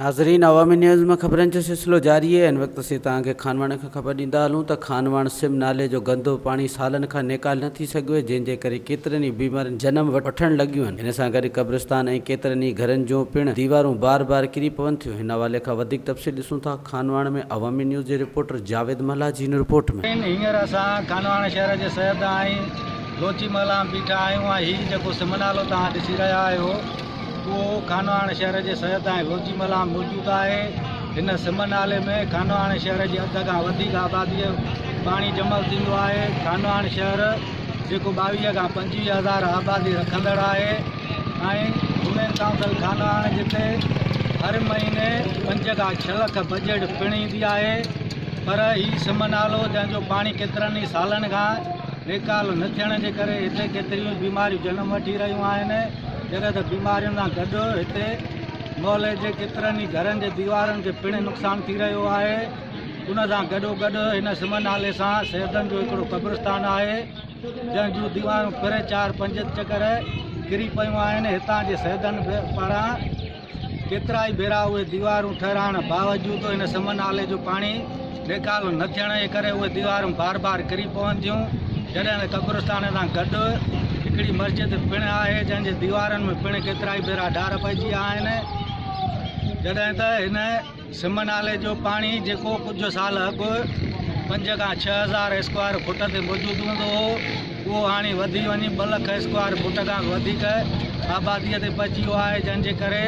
ناظرين عوامي نيوز ۾ خبرن جو سلسلو جاري آهي ان وقت اسين توهان کي خانواڻ کان خبر ڏيندا هلون ته خانواڻ سم نالي جو گندو پاڻي سالن کان نيڪال نه ٿي سگهيو آهي جنهن جي ڪري ڪيترين ئي بيمارين جنم وٺڻ لڳيون آهن ان سان گڏ قبرستان ۽ ڪيترن ئي گهرن جون پڻ ديوارون بار بار ڪري پون ٿيون ان حوالي کان وڌيڪ تفصيل ڏسون ٿا. خانواهڻ ۾ عوامي نيوز جي رپورٽر جاويد ملاح جي هن رپورٽ ۾. سائين هينئر اسان خانواهڻ شهر جي سر تان ۽ لوچي محله ۾ بيٺا آهيون ۽ هي جيڪو سم نالو توهان ڏسي رهيا آهيو اهو خانواهڻ شهر جي سر تان ۽ لوچي محله ۾ موجود آهي هن سم نالي ۾ خانواهڻ شهر جي اڌ کان وڌيڪ آبادي جو پاڻي جمل ٿيندو آهي خانواهڻ شهر جيڪو ٻاويهه کان پنجويهه هزار آبادي رکندڙ آهي. ۽ ھمير ڪائونسل خانه آھن جتي ھر مھيني پنج کان ڇھ لک بجيٽ پڻ ايندي آھي پر ھي سم نالو جنھن جو پاڻي ڪيترن ئي سالن کان ريڪال نه ٿيڻ جي ڪري ھتي ڪيتريون ئي بيماريون جنم وٺي رھيون آھن جڏھن ته بيمارين سان گڏ ھتي محلي جي ڪيترن ئي گھرن جي ديوارن کي پڻ نقصان ٿي رھيو آھي ان سان گڏوگڏ ھن سم نالي سان سيدن جو ھڪڙو قبرستان آھي جنهن جون ديوارون پھرين چار پنج چڪر ڪري پيون آهن، هتان جي سيدن پاران ڪيترائي ڀيرا اهي ديوارون ٺهرائڻ باوجود ان سمن نالي جو پاڻي نيڪال نه ٿيڻ جي ڪري اهي ديوارون بار بار ڪري پون ٿيون، جڏهن ته قبرستان سان گڏ هڪڙي مسجد پڻ آهي، جنهن جي ديوارن ۾ پڻ ڪيترائي ڀيرا ڊار پئجي ويا آهن، جڏهن ته هن. سم نالي جو پاڻي جيڪو ڪجهه سال اڳ پنج کان ڇهه هزار اسڪوائر فوٽ تي موجود هوندو هو اهو هاڻي وڌي وڃي ٻه لک اسڪوائر فوٽ کان به وڌيڪ آباديء تي پهچي ويو آهي جنهن جي ڪري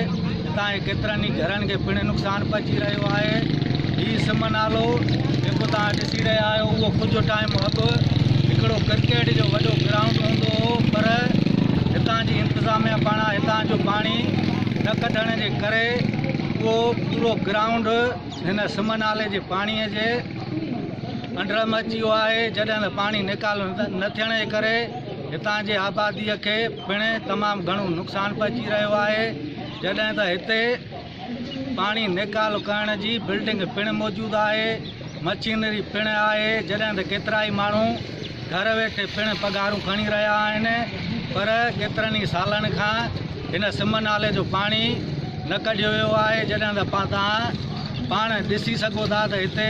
هتان جي ڪيترن ئي گهرن کي پڻ نقصان پهچي رهيو آهي هي سم نالو جيڪو توهان ڏسي رهيا آهيو اهو ڪجهه ٽائيم اڳ هڪڙو ڪرڪيٽ جو وڏو گرائونڊ هوندو هو پر هتان جي انتظاميا پاڻان هتان جو پاڻي نه ڪڍڻ جي ڪري اهو پورو گرائونڊ هن سم نالي جي پاڻي جي انڊر ۾ اچي ويو آهي جڏهن ته پاڻي نيڪال نه ٿيڻ جي ڪري هتان جي آبادي کي پڻ تمام گهڻو نقصان پهچي رهيو آهي جڏهن ته هتي پاڻي نيڪال ڪرڻ جي بلڊنگ پڻ موجود آهي مشينري پڻ آهي جڏهن ته ڪيترائي ماڻهو گهر ويٺي پڻ پگهارون کڻي رهيا آهن پر ڪيترن ئي سالن کان هن سم نالي جو پاڻي نه ڪڍيو ويو آهي جڏهن ته توهان پاڻ ڏسي سگهو ٿا ته هتي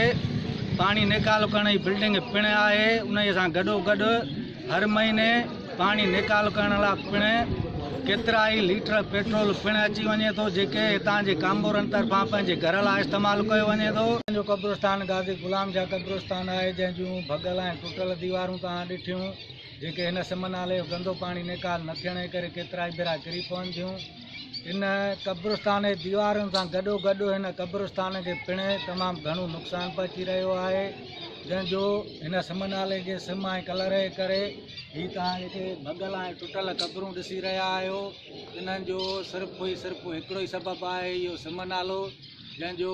پاڻي نيڪالو ڪرڻ جي بلڊنگ پڻ آهي انهي سان گڏو گڏ هر مهيني پاڻي نيڪال ڪرڻ لا پڻ ڪيترائي ليٽر پيٽرول پڻ اچي وڃي ٿو جيڪي هتان جي ڪامورن طرفان پنهنجي گهر لا استعمال ڪيو وڃي ٿو. هتان جو قبرستان غازي غلام جا قبرستان آهي جنهن جون ڀڳل ۽ ٽٽل ديوارون توهان ڏٺيون جيڪي هن سم نالي جو گندو پاڻي نيڪال نه ٿيڻ جي ڪري ڪيترائي ڀيرا ڪري پون ٿيون. هن قبرستان جي ديوارن سان گڏوگڏ هن قبرستان کي پڻ تمام گهڻو نقصان پهچي رهيو آهي جنهن جو هن سم نالي جي سم ۽ ڪلر جي ڪري هي توهان جيڪي ڀڳل ۽ ٽٽل قبرون ڏسي رهيا آهيو انهن جو صرف ئي صرف هڪڙو ئي سبب آهي اهو سم نالو جنهن جو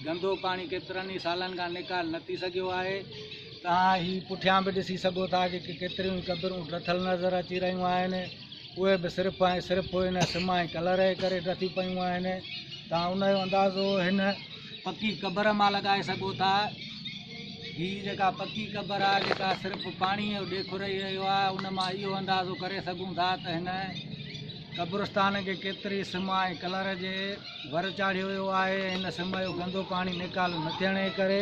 گندو پاڻي ڪيترن ئي سالن کان نڪال نه ٿي سگهيو آهي توهان هي پٺيان به ڏسي سگهو ٿا جيڪي ڪيتريون قبرون لٿل نظر اچي رهيون آهن اهي به صرف ۽ صرف ان سم ۽ ڪلر جي ڪري ڊٿي پيون آهن. توهان ان جو اندازو هن پڪي قبر مان لڳائي سگهو ٿا. هي جيڪا پڪي قبر آهي جيڪا صرف پاڻي جو ڏيک رهي رهيو آهي ان مان اهو اندازو ڪري سگهون ٿا ته هن قبرستان کي ڪيتري سم ۽ ڪلر جي ور چاڙهيو ويو آهي. ان سم جو گندو پاڻي نيڪال نه ٿيڻ جي ڪري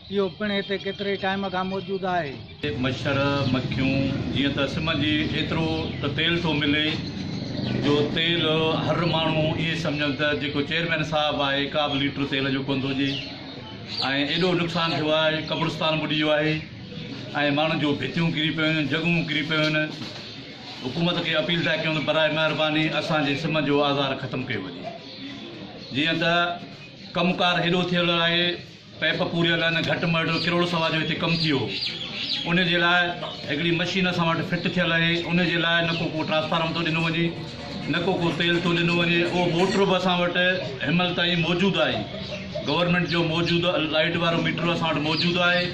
اهو پڻ هتي ڪيتري ٽائيم کان موجود آهي. مڇر، مکيون، جيئن ته سم جي ايترو ته تيل ٿو ملي جو تيل هر ماڻهو ائين سمجهن ته جيڪو چيئرمين صاحب آهي ڪابه ليٽر تيل جو ڪونه ٿو ڏئي ۽ ايڏو نقصان ٿيو آهي قبرستان ٻڏي ويو آهي ۽ ماڻهن جون ڀتيون ڪري پيون آهن جڳهون ڪري پيون آهن حڪومت کي اپيل ٿا ڪيون ته برائي مهرباني اسان جي سم جو آزار ختم ڪيو وڃي جيئن ته ڪم ڪار هيڏو ٿيل آهي پئپ پوريل آهن گهٽ مئڙ ڪروڙ سوا جو هتي ڪم ٿيو ان جي لاء هڪڙي مشين اسان وٽ فٽ ٿيل آهي ان جي لاء نه ڪو ڪو ٽرانسفارم ٿو ڏنو وڃي نه ڪو ڪو تيل ٿو ڏنو وڃي اهو موٽر به اسان وٽ هنمهل تائين موجود آهي گورنمنٽ جو موجود لائيٽ وارو ميٽر اسان وٽ موجود آهي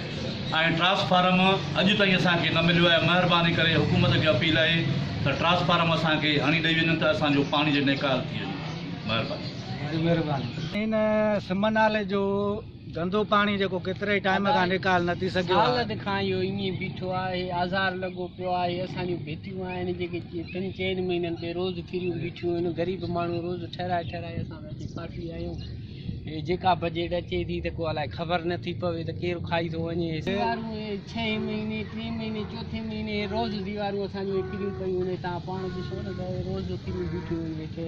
۽ ٽرانسفارم اڄ تائين اسانکي نه مليو آهي مهرباني ڪري حڪومت کي اپيل آهي ته ٽرانسفارم اسانکي هڻي ڏئي وڃن ته اسانجو پاڻي جو نيڪال ٿي وڃي مهرباني ان سم نالي جو گندو پاڻي جيڪو ڪيتري ٽائيم کان نيڪال نه ٿي سگهيو آهي. سال کان اهو ائين ئي بيٺو آهي، آزار لڳو پيو آهي، اسان جون ڀتيون آهن جيڪي ٽن چئن مهينن تي روز ڪريون بيٺيون آهن، غريب ماڻهو روز ٺهرائي ٺهرائي اسان ته اچي ڦاسي آيون، هي جيڪا بجيٽ اچي ٿي ته ڪو الائي خبر نه ٿي پوي ته ڪير کائي ٿو وڃي، زيوارون اهي ڇهين مهيني ٽين مهيني چوٿين مهيني روز زيوارون اسان جون اهي ڪريون پيون آهن، توهان پاڻ ڏسو نه ته روز ڪريون بيٺيون آهن ويٺي.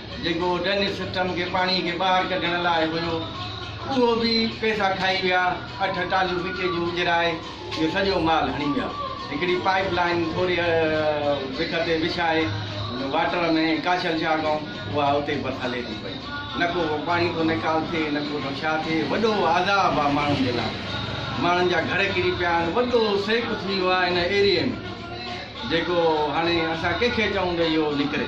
جيڪو ڊرينيج سسٽم کي پاڻي کي ٻاهر ڪڍڻ لاء هيو اهو به پئسا کائي ويا اٺ ٽاليون مٽي جون اجرائي اهو سڄو مال هڻي ويا هڪڙي پائيپ لائين ٿوري وک تي وڇائي واٽر ۾ ڪاشل شاهه گائون اها اتي بس هلي ٿي پئي نه ڪو پاڻي ٿو نيڪال ٿئي نه ڪو ٿو ڇا ٿئي وڏو عذاب آ ماڻهن جي لاء ماڻهن جا گهر ڪري پيا آهن وڏو سيڪ ٿي ويو آهي هن ايريي ۾ جيڪو هاڻي اسان ڪنهن کي چئون ته اهو نڪري